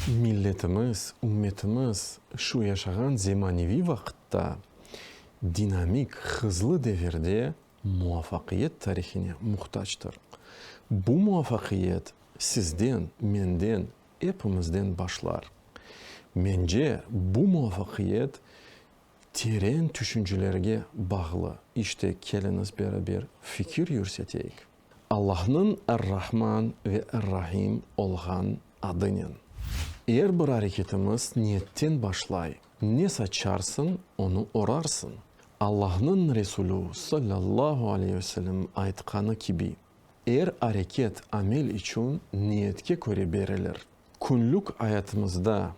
Milletimiz, ümmetimiz şu yaşağan zemaneviy vaqıtta, dinamik, hızlı devirde muvafaqiyet tarihine muhtactır. Bu muvafaqiyet sizden, menden, epimizden başlar. Mence, bu muvafaqiyet Teren tüşüncelerge bağlı. İşte, keliñiz beraber fikir yürseteyik. Allahnıñ Er-Rahman ve Er-Rahim olğan adınen. Er bir areketimiz niyetten başlay. Ne saçarsıñ, onı orarsıñ. Allahnıñ Resulü, sallallahu aleyh ve sellem, aytqanı kibi, Er areket, amel içün niyetke köre berilir. Künlük ayatımızda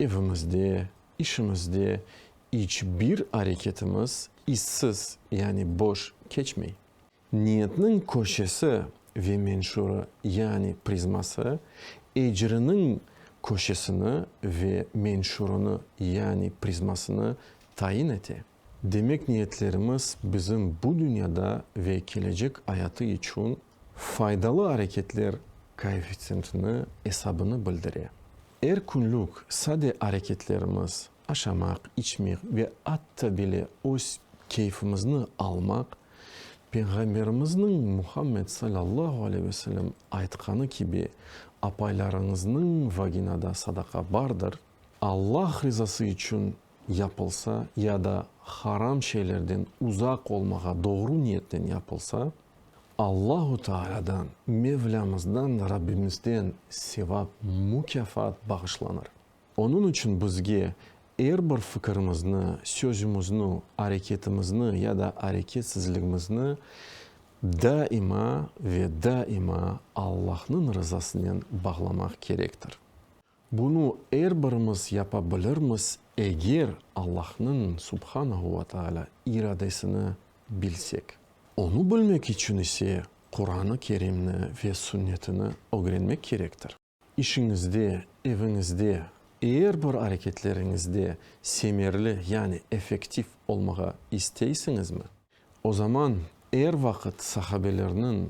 Evimizde, işimizde iç bir areketimiz izsiz, yani boş keçmey. Niyetniñ köşesi ve menşurı, yani prizması, ecriniñ köşesini ve menşurını, yani prizmasını tayin ete. Demek, niyetlerimiz bizim bu dünyada ve kelecek ayatı içün Faydalı areketler koeffitsiyentini esabını bildire. Er künlük sade areketlerimiz, aşamaq, içmek ve atta bile öz keyfimizni almaq, Peyğamberimizniñ Muhammed salâllahu aleyh ve selem aytqanı kibi, apaylarıñıznıñ vaginada sadaqa bardır, Allah rızası içün yapılsa ya da haram şeylerden uzaq olmağa doğru niyetten yapılsa, Allahu Taalâdan, Mevlamızdan, Rabbimizden sevap, mukâfat bağışlanır. Onıñ içün bizge er bir fikirimizni, sözümizni, areketimizni ya da areketsizligimizni daima ve daima Allahnıñ rızasınen bağlamaq kerektir. Bunı er birimiz yapa bilirmiz, eger Allahnıñ, Subhanahu ve Teala, iradesini bilsek. Onı bilmek içün ise Quran-ı Kerimni ve Sünnetini ögrenmek kerektir. İşiñizde, eviñizde, er bir areketleriñizde semerli, yani effektiv olmağa isteysiñizmi? O zaman er vaqıt sahabelerniñ,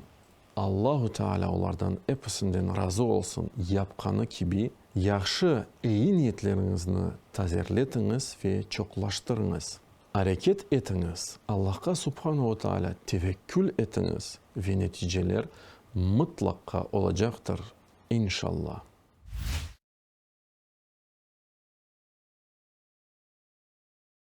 Allahu Teala olardan episinden razı olsun, yapqanı kibi, yahşı, eyi niyetleriñizni tazerletiñiz ve çoqlaştırıñız. Areket etiñiz, Allahqa Subhanehu Teala tevekkül etiñiz ve neticeler mıtlaqqa olacaqtır, inşalla.